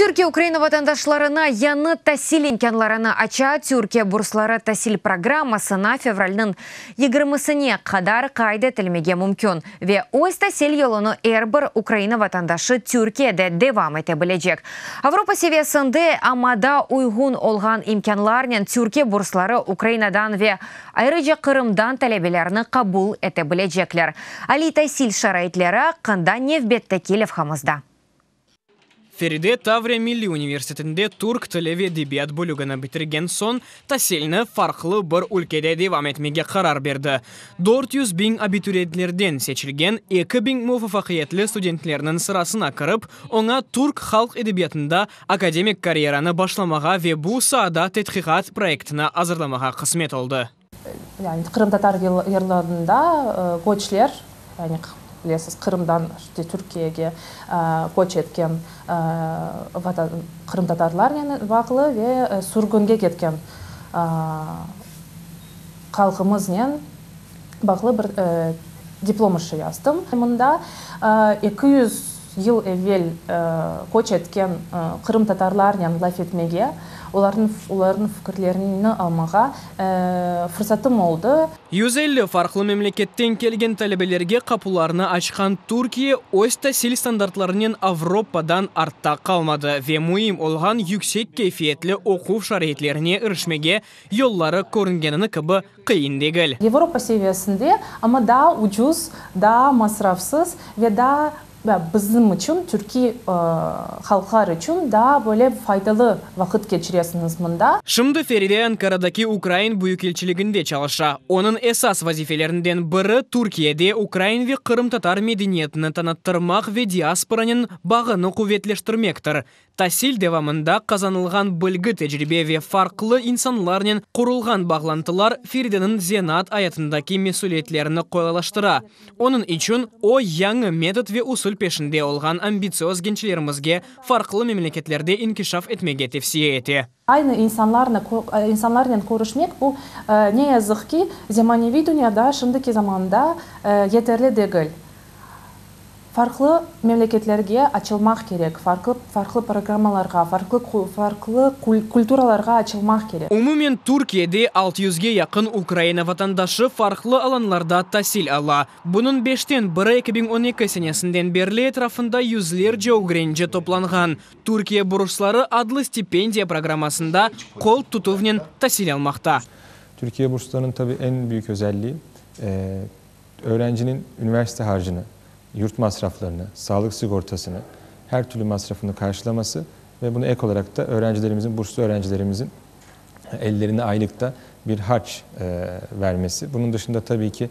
Türkiye Ukraina vatandaşlarına yañı tasil imkânlarını aça, Türkiye bursları tasil programmasına fevralniñ yigirmisine qadar qayd etilmege mümkün ve öz tasil yolunı er bir Ukraina vatandaşı Türkiyede devam ete bilecek. Avropa seviyesinde amada uyğun olğan imkânlarnen Türkiye bursları Ukrainadan ve Ayrıca Qırımdan talebelerni qabul ete bilecekler. Aliy tasil şaraitleri aqqında nevbetteki levhamızda. Feride Tavriya milliy universitetinde türk tili ve edebiyat bölügini bitirgen soñ, tasilni farqlı bir ülkede devam etmege qarar berdi. Dört yüz biñ abituriyentlerden seçilgen eki biñ muvafaqiyetli studentlerniñ sırasına kirip, oña türk halq edebiyatında Akademik karyeranı başlamağa ve bu saada tedqiqat proyektini azırlamağa qısmet oldı. Yani qırımtatar yırlarında göçler, yani bilesiz, Qırımdan Türkiyege köç etken qırımtatarlarnen bağlı ve sürgünge ketken halqımıznen, bağlı bir diplom işi yazdım. Mında eki yüz yıl evel köç etken qırımtatarlarnen laf etmege, olarnıñ fikirlerini almağa fırsatım oldı. Yüz elli farqlı memleketten kelgen talebelerge qapularını açqan Türkiye öz tasil standartlarınen Avropadan artta qalmadı ve müim olğan yüksek keyfiyetli oquv şaraitlerine irişmege yolları körüngenini kibi qıyın degil. Yevropa seviyesinde, amma daa ucuz, daa masrafsız ve daa, ya bizim içün, türkiy halqlar içün daa böyle faydalı vaqıt keçiresiñiz mında. Şimdi Feride Ankaradaki ukrain büyükelçiliginde çalışa. Onıñ esas vazifelerinden biri, Türkiyede ukrain ve qırımtatar medeniyetini tanıttırmaq ve diasporanıñ bağını quvetleştirmektir, Tasil devamında qazanılğan bilgi, tecribe ve farqlı insanlarnen qurulğan bağlantılar Ferideniñ zenaat ayatındaki mesüliyetlerini qolaylaştıra. Onıñ içün o, yañı metod ve usul peşinde olğan ambitsioz gençlerimizge farqlı memleketlerde inkişaf etmege tevsiye ete. Aynı insanlarnen körüşmek, bu, ne yazıq ki, zemaneviy dünyada, şimdiki zamanda yeterli degil. Farqlı memleketlerge açılmaq kerek, farqlı programmalarğa, farqlı kulturalarğa açılmaq kerek. Umumen, Türkiyede altı yüzge yaqın Ukraina vatandaşı farqlı alanlarda tasil ala. Bunıñ beşten biri eki biñ on eki senesinden berli etrafında yüzlerce ögrenci toplanğan. Türkiye bursları adlı stipendiya programmasında qol tutuvnen tasil almaqta. Türkiye burslarınıñ tabii eñ büyük özelliği, öğrenciniñ üniversite harcını, yurt masraflarını, sağlık sigortasını, her türlü masrafını qarşılaması ve buna ek olarak da öğrencilerimizin, burslu öğrencilerimizin ellerine aylıkta bir harç vermesi. Bunıñ dışında tabii ki,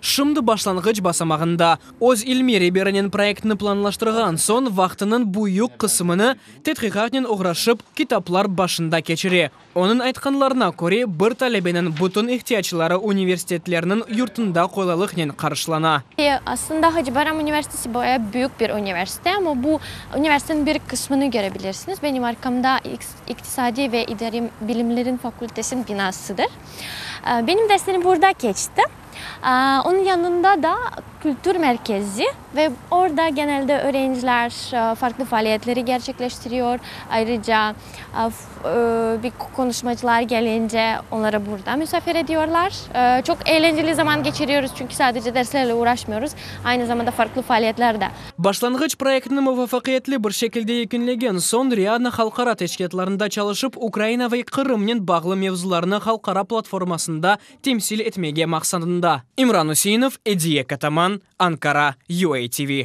Şimdi başlanğıç basamağında, öz ilmiy reberinen proyektni planlaştırğan soñ, vaqtınıñ büyük qısımını tedqiqatnen oğraşıp, kitaplar başında keçire. Onıñ aytqanlarına köre, bir talebeniñ bütün ihtiyacları universitetlerniñ yurtunda qolaylıqnen qarşılana. Aslında Hacıbayram universitesi baya büyük bir universite, amma bu universiteniñ bir qısmını körebilirsiñiz. Benim arqamda iqtisadiy ve idariy bilimleriñ fakültesiniñ binasıdır. Benim derslerim burada keçti. Onıñ yanında da kültür merkezi ve orda genelde öğrenciler farqlı faaliyetleri gerçekleştiriyor. Ayrıca qonuşmacılar gelince onları burda misafir ediyorlar. Çoq eğlenceli zaman keçiriyoruz, çünki sadece derslerle uğraşmıyoruz, aynı zamanda farqlı faaliyetler de. Başlanğıç proyektni muvafaqiyetli bir şekilde yekünlegen soñ Riadna halqara teşkilâtlarında çalışıp, Ukraina ve Qırımnen bağlı mevzularnı halqara platformasında temsil etmege maqsadında. İmran Üseinov, Ediye Kataman, Ankara, UATV.